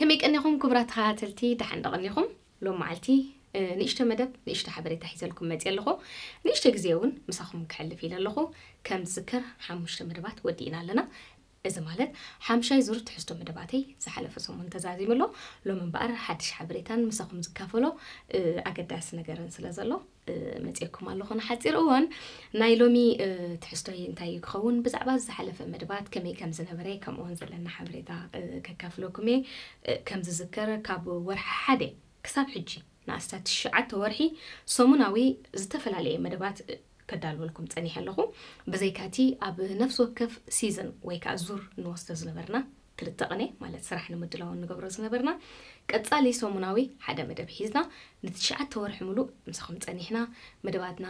ከመይ ቀኒኹም ኩቡራት ተኸታተልቲ ዳሓን ዶ ቀኒኹም ሎም ማዓልቲ ንእሽቶ መደብ ንእሽቶ ሓበሬታ ሒዘልኩም መጽየ ኣለኹ ንእሽቶ ግዜ ውን ምሳኹም ከሕልፍ ኢለ ኣለኹ ከም ዝዝከር ሓሙሽተ መደባት ወዲእና ኣለና እዚ ማለት ሓምሻይ ዙር ትሕዝቶ መደባተይ ዝሓለፈ ሰሙን ተዛዚሙ ኣሎ ሎም እምበኣር ሓድሽ ሓበሬታን ምሳኹም ዝካፈሎ ኣገዳሲ ነገርን ስለ ዘሎ መጽኤኩም ኣለኹ ንሓጺር እዋን። ናይ ሎሚ ትሕዝቶይ እንታይ እዩ ክኸውን ብዛዕባ ዝሓለፈ መደባት ከመይ ከም ዝነበረ ከምኡውን ዘለና ሓበሬታ ከካፍለኩም እየ። ከም ዝዝከር ካብ ወርሒ ሓደ ክሳብ ሕጂ ንኣስታት ትሽዓተ ወርሒ ሰሙናዊ ዝተፈላለየ መደባት ከዳልወልኩም ጸኒሐ ኣለኹ። ብዘይካ እቲ ኣብ ነፍሲ ወከፍ ሲዝን ወይ ከኣ ዙር ንወስዶ ዝነበርና፣ ክልተ ቅኔ ማለት ስራሕ ንምድላው እንገብሮ ዝነበርና ቀጻሊ ሰሙናዊ ሓደ መደብ ሒዝና ንትሽዓተ ወርሒ ምሉእ ምሳኹም ጸኒሕና። መደባትና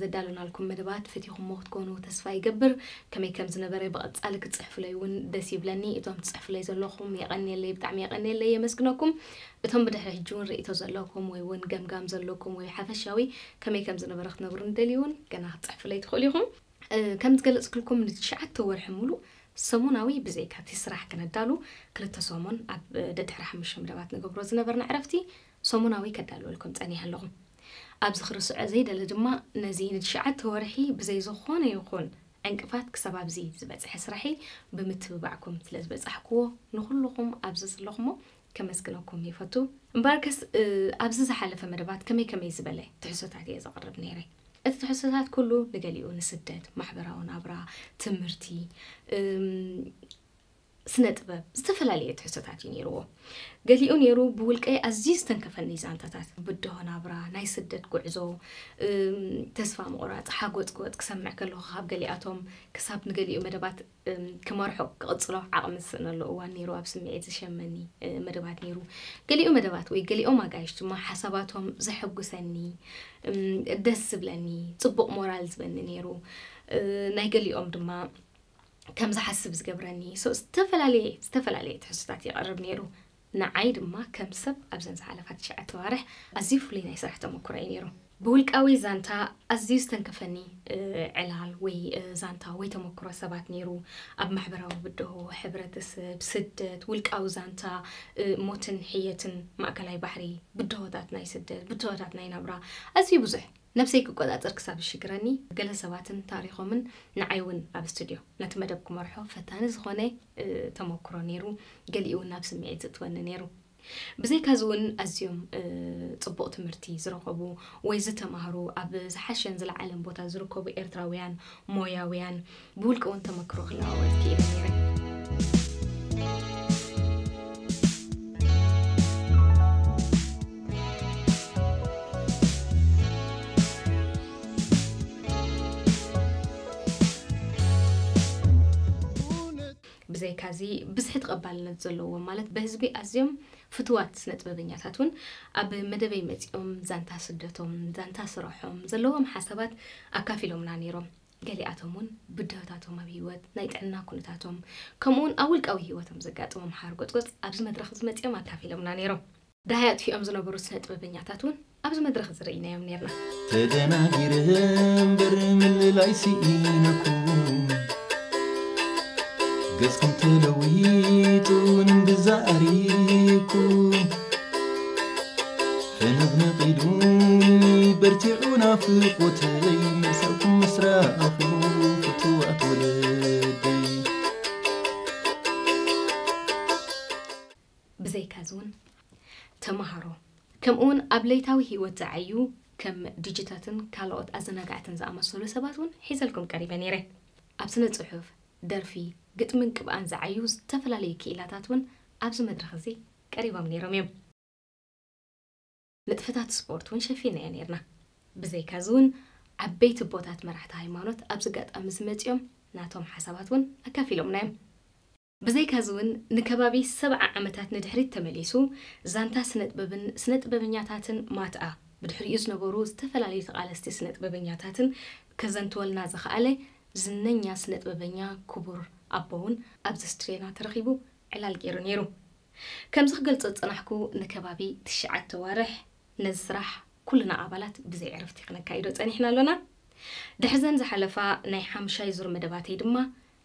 ዘዳለናልኩም መደባት ፈቲኹሞ ክትኮኑ ተስፋ ይገብር። ከመይ ከም ዝነበረ ብቐጻሊ ክትጽሕፉለይ እውን ደስ ይብለኒ። እቶም ትጽሕፉለይ ዘለኹም የቐንየለይ ብጣዕሚ የቐንየለይ የመስግነኩም። እቶም ብድሕሪ ሕጂ እውን ርእይቶ ዘለኩም ወይ እውን ገምጋም ዘለኩም ወይ ሓፈሻዊ ከመይ ከም ዝነበረ ክትነግሩኒ ትደልዩ እውን ገና ክትጽሕፉለይ ትኽእሉ ኢኹም። ከም ዝገለጽክልኩም ንትሽዓተ ወርሒ ሙሉእ ሰሙናዊ ብዘይካ እቲ ስራሕ ክነዳሉ ክልተ ሰሙን ኣብ ደድሕሪ ሓሙሽተ መደባት ንገብሮ ዝነበርና ዕረፍቲ ሰሙናዊ ከዳልወልኩም ጸኒሐ ኣለኹ። ኣብዚ ክርስዖ ዘይደሊ ድማ ነዚ ንትሽዓተ ወርሒ ብዘይ ዝኾነ ይኹን ዕንቅፋት ክሳብ ኣብዚ ዝበጽሐ ስራሕይ ብምትብባዕኩም ስለዝበጻሕክዎ ንኹሉኹም ኣብዚ ዘለኹሞ ከመስግነኩም ይፈቱ። እምበኣርከስ ኣብዚ ዝሓለፈ መደባት ከመይ ከመይ ዝበለ ትሕዝቶታት እየ ዘቕርብ ነይረ። እቲ ትሕዝቶታት ኩሉ ንገሊኡ ንስደት፣ ማሕበራዊ ናብራ፣ ትምህርቲ፣ ስነ-ጥበብ ዝተፈላለየ ትሕዝቶታት እዩ ነይርዎ። ገሊኡ ነይሩ ብውልቀይ ኣዝዩ ዝተንከፈኒ ዛንታታት ብድሆ ናብራ፣ ናይ ስደት ጉዕዞ፣ ተስፋ ምቑራጽ፣ ሓጎጽጎጽ ክሰምዕ ከለኹ ካብ ገሊኣቶም ክሳብ ንገሊኡ መደባት ክመርሖ ክቕጽሎ ዓቕሚ ዝስእነሉ እዋን ነይሩ፣ ኣብ ስምዒት ዝሸመኒ መደባት ነይሩ፣ ገሊኡ መደባት ወይ ገሊኦም ኣጋይሽ ድማ ሓሳባቶም ዘሐጉሰኒ ደስ ዝብለኒ ጽቡቕ ሞራል ዝበኒ ነይሩ፣ ናይ ገሊኦም ድማ ከም ዝሓስብ ዝገብረኒ ዝተፈላለየ ዝተፈላለየ ትሕዝቶታት የቕርብ ነይሩ። ንዓይ ድማ ከም ሰብ ኣብዘን ዝሓለፋ ትሽዓተ ኣዋርሕ ኣዝዩ ፍሉይ ናይ ስራሕ ተመኩሮ እዩ ነይሩ። ብውልቃዊ ዛንታ ኣዝዩ ዝተንከፈኒ ዕላል ወይ ዛንታ ወይ ተመኩሮ ሰባት ነይሩ። ኣብ ማሕበራዊ ብድሆ፣ ሕብረተሰብ፣ ስደት፣ ውልቃዊ ዛንታ ሞትን ሕየትን ማእከላይ ባሕሪ፣ ብድሆታት ናይ ስደት፣ ብድሆታት ናይ ናብራ ኣዝዩ ብዙሕ። ነብሰይ ክቆጻጸር ክሳብ ዝሽግረኒ ገለ ሰባትን ታሪኾምን ንዓይ እውን ኣብ ስቱድዮ ነቲ መደብ ክመርሖ ፈታኒ ዝኾነ ተመኩሮ ነይሩ፣ ገሊኡ እውን ናብ ስምዒት ዘእትወኒ ነይሩ። ብዘይካዚ እውን ኣዝዮም ጽቡቕ ትምህርቲ ዝረኸቡ ወይ ዝተማህሩ ኣብ ዝሓሸን ዝለዓለን ቦታ ዝርከቡ ኤርትራውያን ሞያውያን፣ ብውልቂ እውን ተመክሮ ክለዋወጥ ክኢለ ነይረ። ብዘይካዚ ብዝሒ ተቐባልነት ዘለዎም ማለት በህዝቢ ኣዝዮም ፍትዋት ስነ ጥበበኛታት እውን ኣብ መደበይ መፂኦም ዛንታ ስደቶም፣ ዛንታ ስረሖም፣ ዘለዎም ሓሳባት ኣካፊሎምና ነይሮም። ገሊኣቶም እውን ብድሆታቶም ኣብ ህይወት፣ ናይ ጥዕና ኩነታቶም፣ ከምኡ እውን ኣብ ውልቃዊ ህይወቶም ዘጋጠሞም ሓርጎጽጎጽ ኣብዚ መድረኽ እዚ መጺኦም ኣካፊሎምና ነይሮም። ደሃይ ኣጥፊኦም ዝነበሩ ስነ-ጥበበኛታት እውን ኣብዚ መድረኽ እዚ ርኢናዮም ነይርና። ተደናጊረ እምበር ምልላይ ስኢነኩም ገጽኩም ተለዊጡ ንምግዛእ ኣሪግኩም። ሕንቕንቕ ኢሉኒ በርቲዑ ናፍቖተይ መልሳኩም ምስ ረኣኹ ፍቱዋት ወለደይ። ብዘይካዚ እውን ተመሃሮ ከምኡ እውን ኣብ ለይታዊ ህይወት ዝዓዩ ከም ዲጂታትን ካልኦት ኣዘናጋዕትን ዝኣመሰሉ ሰባት እውን ሒዘልኩም ቀሪበ ነይረ። ኣብ ስነ ጽሑፍ፣ ደርፊ፣ ግጥምን ቅብኣን ዝዓዩ ዝተፈላለዩ ክኢላታት እውን ኣብዚ መድረኽ እዚ ቀሪቦም ነይሮም እዮም። ንጥፈታት ስፖርት እውን ሸፊንናዮ ነይርና። ብዘይካዚ እውን ዓበይቲ ቦታት መራሕቲ ሃይማኖት ኣብዚ ኣጋጣሚ እዚ መፂኦም ናቶም ሓሳባት እውን ኣካፊሎምና እዮም። ብዘይካዚ እውን ንከባቢ ሰብዓ ዓመታት ንድሕሪት ተመሊሱ ዛንታ ስነጥበብን ስነጥበበኛታትን ማትኣ ብድሕሪኡ ዝነበሩ ዝተፈላለዩ ተቓለስቲ ስነጥበበኛታትን ከዘንትወልና ዝኸኣለ ዝነኛ ስነጥበበኛ ክቡር ኣቦ እውን ኣብዚ ስትድዮና ተረኺቡ ዕላል ገይሩ ነይሩ። ከምዚ ክገልጾ ዝጸናሕኩ ንከባቢ ትሽዓተ ኣዋርሕ ነዚ ስራሕ ኩልና ኣባላት ብዘይ ዕረፍቲ ክነካይዶ ጸኒሕና ኣሎና። ድሕሪዘን ዝሓለፋ ናይ ሓምሻይ ዙር መደባተይ ድማ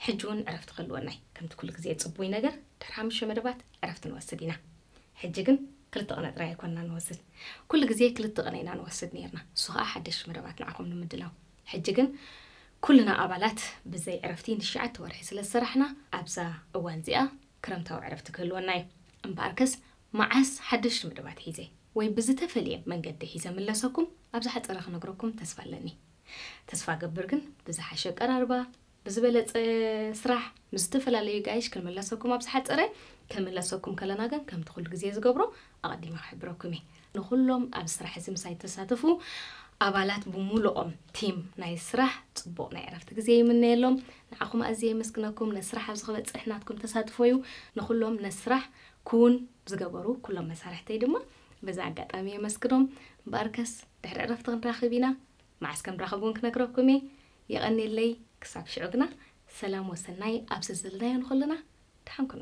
ሕጂ እውን ዕረፍቲ ክህልወና'ዩ። ከምቲ ኩሉ ግዜ ጽቡይ ነገር ድሕሪ ሓሙሽተ መደባት ዕረፍቲ ንወስድ ኢና። ሕጂ ግን ክልተ ቅነ ጥራይ ኣይኮንናን ንወስድ። ኩሉ ግዜ ክልተ ቅነ ኢና ንወስድ ኔርና ንሱ ከኣ ሓደሽቲ መደባት ንዓኹም ንምድላው። ሕጂ ግን ኩልና ኣባላት ብዘይ ዕረፍቲ ንሽዓተ ወርሒ ስለ ዝሰራሕና ኣብዛ እዋን'ዚኣ ክረምታዊ ዕረፍቲ ክህልወና እዩ። እምበኣርከስ መዓስ ሓደሽቲ መደባት ሒዘ ወይ ብዝተፈልየ መንገዲ ሒዘ እምለሰኩም ኣብ ዝሓጸረ ክነግረኩም ተስፋ ኣለኒ። ተስፋ እገብር ግን ብዝሓሸ ኣቀራርባ፣ ብዝበለጸ ስራሕ፣ ምስ ዝተፈላለዩ ጋይሽ ክንምለሰኩም ኣብ ዝሓጸረ ክንምለሰኩም ከለና ግን ከምቲ ኩሉ ግዜ ዝገብሮ ኣቐዲመ ክሕብረኩም እየ። ንኹሎም ኣብዚ ስራሕ እዚ ምሳይ ዝተሳተፉ ኣባላት ብሙሉኦም ቲም ናይ ስራሕ ጽቡቕ ናይ ዕረፍቲ ግዜ ይምነየሎም። ንዓኹም ኣዝየ የመስግነኩም። ነስራሕ ኣብዚ ክበጽሕ ናትኩም ተሳትፎ እዩ። ንኹሎም ነስራሕ ክዉን ዝገበሩ ኩሎም መሳርሕተይ ድማ በዚ ኣጋጣሚ የመስግኖም። እምበኣርከስ ድሕሪ ዕረፍቲ ክንራኽብ ኢና። መዓስ ከምራኸብ እውን ክነግረኩም እየ። የቐኔለይ። ክሳብ ሽዑ ግና ሰላም ወሰናይ ኣብ ዘዘለናዮ ንኹልና ድሓን ኩኑ።